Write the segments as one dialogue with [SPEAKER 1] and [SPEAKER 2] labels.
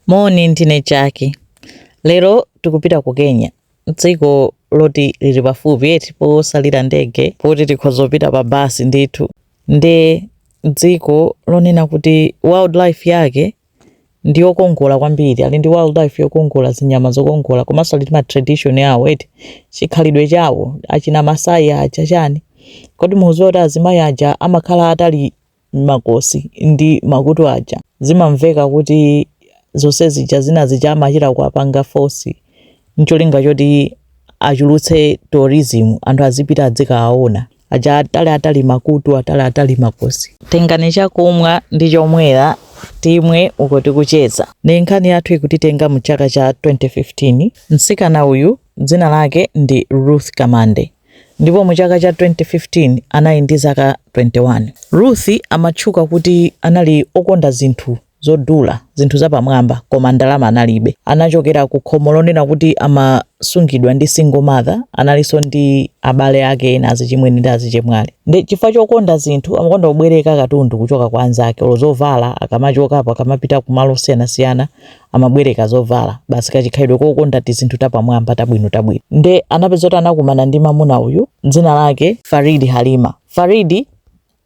[SPEAKER 1] Moni, ndine Jaki. Lero tikupita ku Kenya, dziko loti lili pafupi eti osalira ndege poti tikhoza kupita pa basi ndithu. Nde dziko lonena kuti wildlife yake ndi yokongola kwambiri, ali ndi wildlife yokongola, zinyama zokongola komanso ali ndi ma tradition awo eti chikhalidwe chawo, achina Masai aja chani. Kodi mukudziwa kuti azimayi aja amakhala atali makosi ndi makutu aja zimamveka kuti zonse zija zina zija amachita kuwapanga force ncholinga choti achulutse tourism anthu azipita adzikawaona aja atali atali makutu atali atali makosi tengani chakumwa ndi chomwera timwe uku tikucheza ndi nkhani yathu ikutitenga mu chaka cha 2015 mtsikana uyu dzina lake ndi ruth kamande ndipo mu chaka cha 2015 anali ndi zaka 21. Ruth amatchuka kuti anali okonda zinthu zodula, zinthu zapamwamba, koma ndalama analibe. Anachokera ku khomo lonena kuti amasungidwa ndi single mother, analinso ndi abale ake ena azichimwene ndi azichemwali. Ndi chifukwa chokonda zinthu, amakonda kubwereka katundu kuchoka kwa anzake, olo zovala akamachokapo, akamapita kumalo osiyanasiyana, amabwereka zovala basi kachikhalidwe kokonda tizinthu tapamwamba tabwino tabwino nde anapeza kuti anakumana ndi mamuna uyu dzina lake faridi halima faridi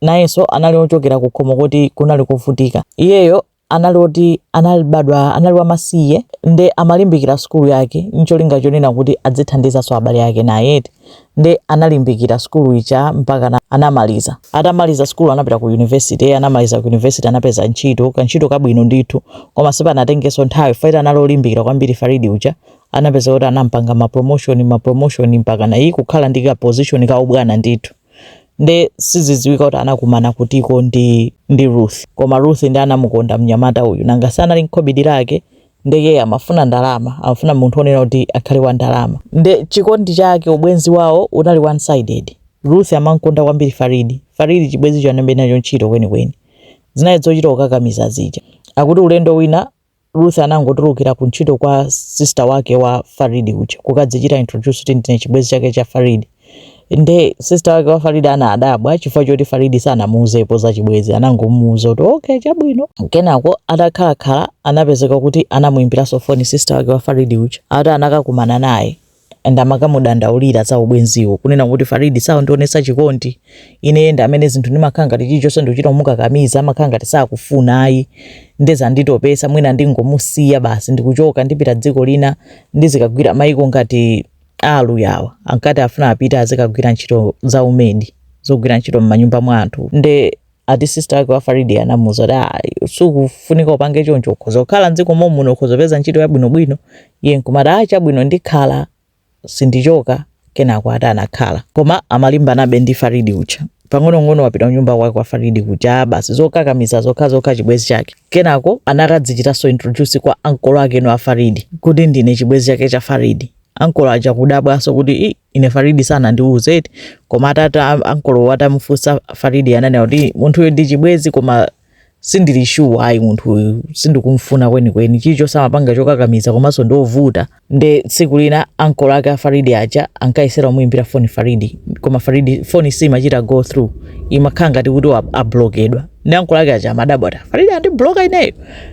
[SPEAKER 1] nayenso anali ochokera ku khomo koti kunali kovutika iyeyo anali oti anabadwa anali wamasiye nde amalimbikira sukulu yake ncholinga chonena kuti adzithandizanso abale ake naye eti nde analimbikira sukulu ija mpakana anamaliza atamaliza sukulu anapita ku university anamaliza ku university anapeza ntchito kantchito kabwino ndithu koma sipanatengenso nthawi fukwa anali olimbikira kwambiri faridi uja anapeza kuti anampanga ma promotion ma promotion mpaka naye kukhala ndi ka position ka ubwana ndithu nde sizidziwika kuti anakumana kutiko ndi ndi ruth koma ruth ndi anamukonda mnyamata uyu nanga si anali n'khobidi lake nde iyeyo amafuna ndalama amafuna munthu onena kuti akhale wa ndalama nde chikondi chake ubwenzi wawo unali one sided ruth amankonda kwambiri faridi faridi chibwenzicho analibe nacho ntchito kwenikweni zinali zochita kukakamiza zija akuti ulendo wina ruth anangotulukira ku ntchito kwa sister wake wa faridi uja kukadzichita introduce kuti ndine chibwenzi chake cha faridi nde sister wake wa faridi anadabwa chifukwa choti faridi sanamuuzepo za chibwenzi anangomuuza kuti okay chabwino kenako atakhalakhala anapezeka kuti anamuyimbiranso foni sister wake wa faridi uja ati anakakumana naye and amakamudandaulira za ubwenziwo kunena kuti faridi samandionesa chikondi ine ndi amene zinthu ndimakhala ngati chilichonse ndikuchita kumukakamiza amakhala ngati sakufuna ayi nde zanditopetsa mwina ndingomusiya basi ndikuchoka ndipita dziko lina ndizikagwira maiko ngati a Aluya uwa ankati afuna apite azikagwira ntchito za umedi zogwira ntchito m'manyumba mwa anthu nde ati sister wake wa Faridi anamuuza kuti ah, sukufunika upange choncho ukhoza kukhala mdziko momuno ukhoza kupeza ntchito yabwinobwino iye nkumati ah, chabwino ndikhala sindichoka kenako ati anakhala koma amalimbanabe ndi Faridi uja pang'onong'ono wapita kunyumba kwake kwa Faridi kuja basi zokakamiza zokhazokha chibwenzi chake kenako anakadzichitanso introduce kwa ankolo ake a Faridi kuti ndine chibwenzi chake cha Faridi ankolo aja kudabwanso kuti i ine Faridi sanandiuze ati koma ati ankolowo atamufunsa Faridi ananena kuti munthuyo ndi chibwenzi koma sindili shuwa ayi munthuyu sindikumfuna kwenikweni chilichonse amapanga chokakamiza komanso ndiovuta nde tsiku lina ankolo ake a Faridi aja ankayesera kumuimbira foni Faridi koma Faridi foni simachita go through imakhala ngati kuti wa- ablokedwa nde ankolo ake aja amadabwa ati faridi wandibloka ineyo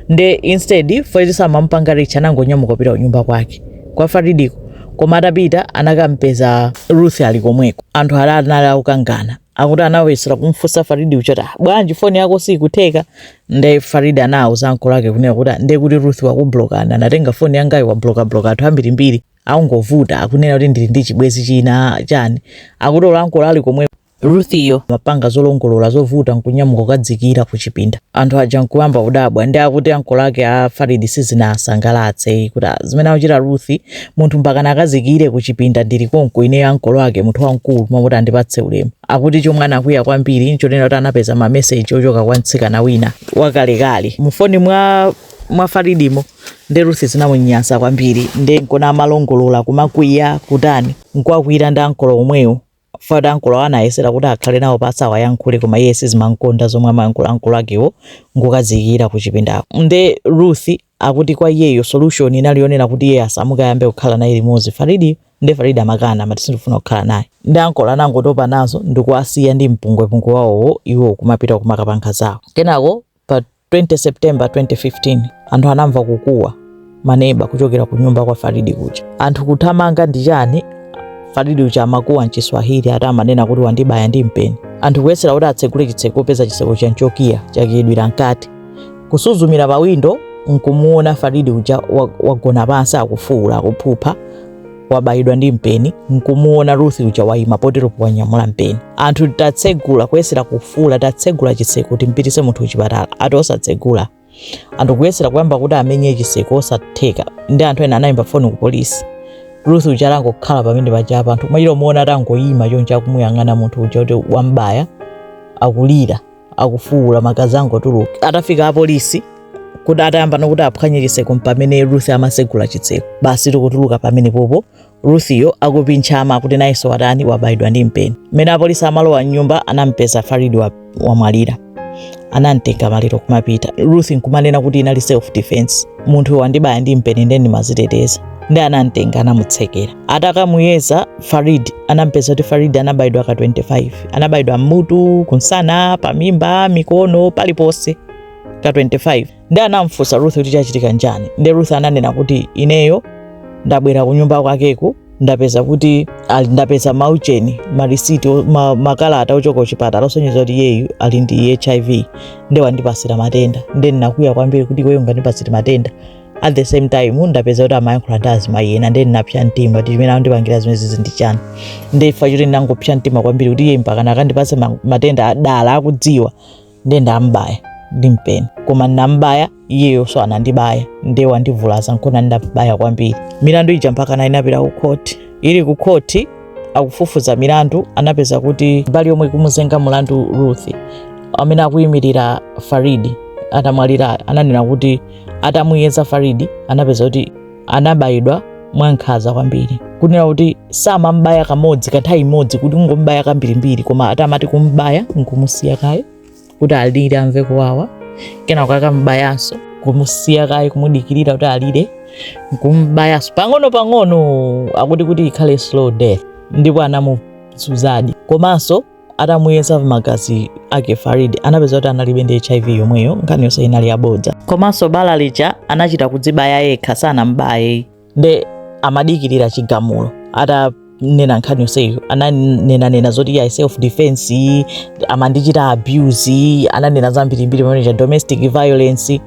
[SPEAKER 1] nde instead faridi samamupanga reach anangonyamuka kupita kunyumba kwake kwa faridiko koma atapita anakampeza ruth ali komweko anthu ali anali akukangana akuti anayesera kumfunsa faridi uja ati "Ah, bwanji foni yako siikutheka nde faridi anawawuza ankolo ake kunena kuti "Ah, nde kuti ruth wakublokani anatenga foni yangayo wablokabloka anthu ambirimbiri akungovuta akunena kuti ndili ndi chibwenzi china chani akuti olo ankolo ali komweko Ruthiyo amapanga zolongololalongolola zovuta nkunyamuka kukadziikira kuchipinda. Anthu aja nkuyamba kudabwa, nde akuti ankolo ake a Farid sizinawasangalatse ayi, kuti "Ah, zimene akuchita Ruth, munthu mpakana akadziikire kuchipinda ndili konko ineyo ankolo ake, munthu wamkulu, mmalo moti andipatse ulemu. Akuti chomwe anakwiya kwambiri nchonena kuti anapeza mameseji ochoka kwa mtsikana wina wakalekale mufoni mwa mwa Faridimo nde Ruth zinamunyansa kwambiri nde nkona amalongolola kumakwiya kutani nkuwakwiyira ndi ankolo omwewo Ati ankolowo anayesera kuti akhale nawo pansi awayankhule koma iye sizimamukonda zomwe amayankhula ankolo akewo nkukadziikira ku chipindako nde Ruth akuti kwa iyeyo solution inali yonena kuti iyeyo asamuke ayambe kukhala naye limodzi Faridiyo nde Farid amakana amati sindikufuna kukhala naye nde ankolo anangotopa nazo ndikuwasiya ndi mpungwepungwe wawowo iwo kumapita kumakapanga zawo kenako pa 20 September 2015 anthu anamva kukuwa maneba kuchokera ku nyumba kwa Faridi kuja. Anthu kuthamanga ndi chani? Faridi uja amakuwa mchiswahili ati amanena kuti wandibaya ndi mpeni. Anthu kuyesera kuti atsegule chitseko kupeza chitseko chija nchokiya chakiyidwira mkati. Kusuzumira pa windo nkumuona Faridi uja wagona pansi akufuula akuphupha wabayidwa ndi mpeni nkumuona Ruth uja wayima poteropo wanyamula mpeni anthu tatsegula kuyesera kufuula tatsegula chitseko kuti timpititse munthu kuchipatala ati osatsegula anthu kuyesera kuyamba kuti amenye chitseko osatheka nde anthu ena anayimba foni ku polisi Ruth uja anangokhala pamene paja apa anthu amachita kumuona atangoyima choncho akumuyang'ana munthu uja kuti wambaya akulira akufuula magazi akungotuluka atafika apolisi kuti atayamba nokuti aphwanye chitseko mpamene ruth amasegula chitseko basi nkutuluka pamenepopo ruthiyo akupinchama kuti nayenso watani wabayidwa ndi mpeni mmene apolisi amalowa mnyumba anampeza farid wamwalira anamtenga maliro kumapita ruth nkumanena kuti inali self defense munthu wandibaya ndi mpeni nde ndimaziteteza nde anamtenga anamutsekera Atakamuyeza Farid anampeza kuti Farid anabayidwa ka 25 anabayidwa mmutu, kunsana, pamimba, mikono, paliponse ka 25 nde anamfunsa Ruth kuti chachitika nchani, nde Ruth ananena kuti ineyo ndabwera kunyumba kwakeku ndapeza kuti ali ndapeza maujeni marisiti ma, makalata ochoka kuchipatala osonyeza kuti iyeyu ali ndi hiv nde wandipatsira matenda nde ndinakwiya kwambiri kuti iweyo ungandipatsire matenda at the same time ndapeza kuti amayankhula ndi azimayi ena ndiye ndinapsa mtima kuti chimene akundipangira zimenezizi ndi chani ndiye chifukwa choti ndinangopsa mtima kwambiri kuti iye mpakana kundipatsa ma- matenda dala akudziwa ndiye ndambaya ndi mpeni koma ndinambaya iyeyoso anandibaya ndiye wandivulaza nkona ndabaya kwambiri mlandu uja mpakana unapita ku khoti uli ku khoti akufufuza mlandu anapeza kuti mbali yomwe ikumuzenga mulandu ruth amene akuyimirira farid atamwalira ananena kuti atamuyeza farid anapeza kuti anabayidwa mwankhaza kwambiri kunena kuti samambaya kamodzi kanthawi imodzi kuti kungombaya kambirimbiri koma ati amati kumbaya nkumusiya kaye kuti alire amve kuwawa kenako nkumbayanso kumusiya kaye kumudikirira kuti alire nkumbayanso pang'ono pang'ono akuti kuti ikhale slow death ndipo anamuzunzadi komanso atamuyeza magazi ake Farid anapeza kuti analibe ndi HIV yomweyo, nkhani yonse inali yabodza. Komanso bala lija anachita kudzibaya yekha sanambaye. Nde amadikirira chigamulo atanena nkhani yonseyo ananenanena zoti ya self defense amandichita abuse ananena zambirimbiri pamenepaja domestic violence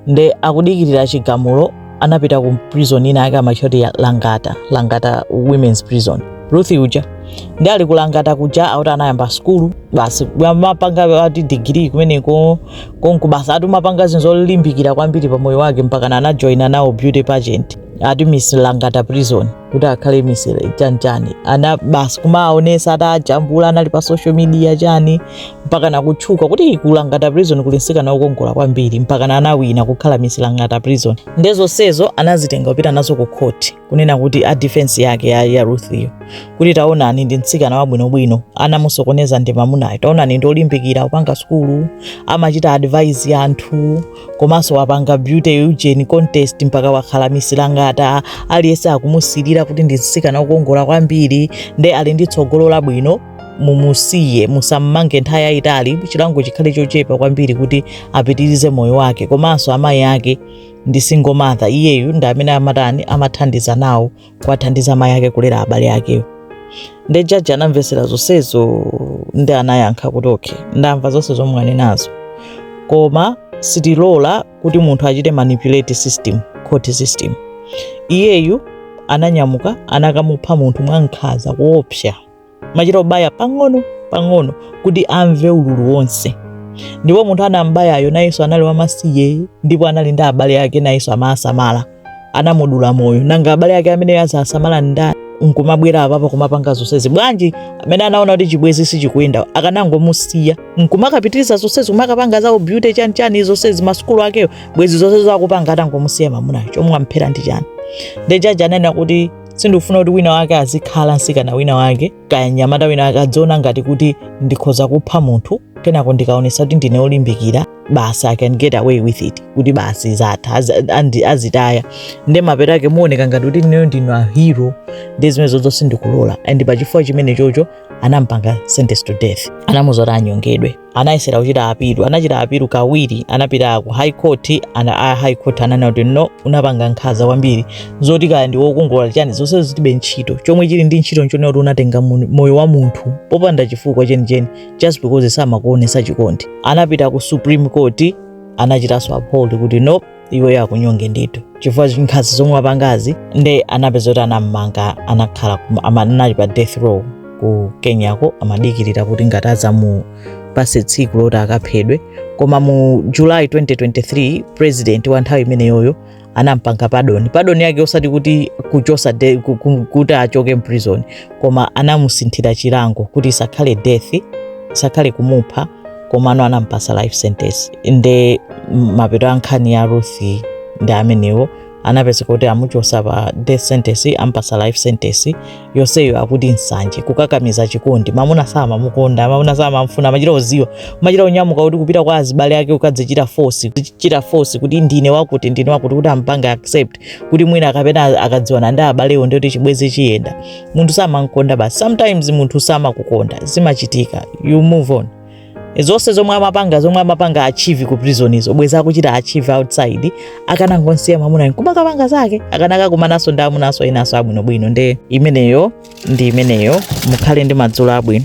[SPEAKER 1] nde akudikirira chigamulo anapita ku prison ina yake amaitcha kuti ya langata langata women's prison ruth uja nde ali kulangata kuja akuti anayamba sukulu basi amapanga ati digiri kumeneko konku basi ati kumapanga zinthu zolimbikira kwambiri pa moyo wake mpaka anajoina nawo beauty pageant ati miss langata prison kuti akhale miss chanchani ana basi kumaonesa atajambula anali pa social media chani mpakana kutchuka kuti ku langata prison kuli mtsikana okongola kwambiri mpakana anawina kukhala miss langata prison nde zonsezo anazitenga kupita nazo ku court kunena kuti a defense yake ya, ya Ruth yo kuti taonani ndi mtsikana wabwinobwino anamusokoneza ndi mamunayo taonani ndi olimbikira kupanga sukulu amachita advise anthu komanso wapanga beauty ujeni contest mpaka wakhala miss langata aliyense akumusilira kuti ndi mtsikana okongola kwambiri nde ali ndi tsogolo labwino mumusiye musammange nthawi yayitali chilango chikhale chochepa kwambiri kuti apitirize moyo wake komanso amayi ake ndi single mother iyeyu ndi amene amatani amathandiza nawo kuwathandiza amayi ake kulera abale akewo nde jaji anamvesera zonsezo ndi anayankha kuti okay ndamva zonse zomwe mwanenazo koma sitilola kuti munthu achite manipulate system court system iyeyu ananyamuka anakamupha munthu mwankhaza kuopsa kumachita kubaya pang'ono pang'ono kuti amve ululu wonse ndipo munthu anambayayo nayenso anali wamasiye ndipo anali ndi abale ake nayenso amasamala anamudula moyo nanga abale ake amene azasamala ndani nkumabwera apapo kumapanga zonsezi bwanji amene anaona kuti chibwezi sichikuyenda akanangomusiya nkumakapitiriza zonsezi kumakapanga zawo beauty chani chani zonsezi masukulu akeyo bwezi zonse akupanga atangomusiya mamunayo chomwe amphera ndi chani nde jaji ananena kuti sindikufuna kuti wina wake azikhala msikana wina wake kaya nyamata wina wake adziona ngati kuti ndikhoza kupha munthu kenako ndikaonesa kuti ndine olimbikira basi i can get away with it kuti basi zatha azitaya nde mapeto ake mowoneka ngati kuti ineyo ndine hero ndi zimene zizo sindikulola and pachifukwa chimene chocho anampanga sentence to death anamuza kuti anyongedwe anayesera kuchita apilu anachita apilu kawiri anapita ku high court and a high court ananena kuti no unapanga nkhaza kwambiri zoti kaya ndi wokongola chani zonse zilibe ntchito chomwe chili ndi ntchito nchonena kuti unatenga mun- moyo wa munthu popanda chifukwa chenicheni just because samakuonesa chikondi anapita ku supreme court anachitanso uphold kuti no iweyo akunyonge ndithu chifukwa nkhanza zomwe wapangazi nde anapezeka kuti anammanga anakhala kuma- ama- anali pa death row ku kenyako amadikirira kuti ngati adzamupase tsiku loti akaphedwe koma mu july 2023 president wa nthawi imeneyoyo anampanga padoni padoni yake osati kuti kuchosa de, ku- ku- kuti achoke mprison koma anamusinthira chilango kuti isakhale death isakhale kumupha komano anampasa life sentence nde mapeto a nkhani ya ruth ndi amenewo anapezeka kuti amuchosa pa death sentence ampasa life sentence yonseyo akuti nsanje kukakamiza chikondi mamuna samamukonda mamuna samamfuna amachita kuziwa kumachita kunyamuka kuti kupita kwa azibale ake kukadzichita force kuchita force kuti ndine wakuti ndine wakuti kuti ampanga accept kuti mwina kapena akadziwana ndi abalewo nde kuti chibwezi chiyenda munthu samamkonda basi sometimes munthu samakukonda zimachitika you move on zonse zomwe amapanga zomwe amapanga achieve ku prison izo bwezi akuchita achieve outside akanangonsiya mamuna kumakapanga zake akanakakumanaso ndi amunaso enaso abwinobwino nde imeneyo ndi imeneyo mukhale ndi madzulo abwino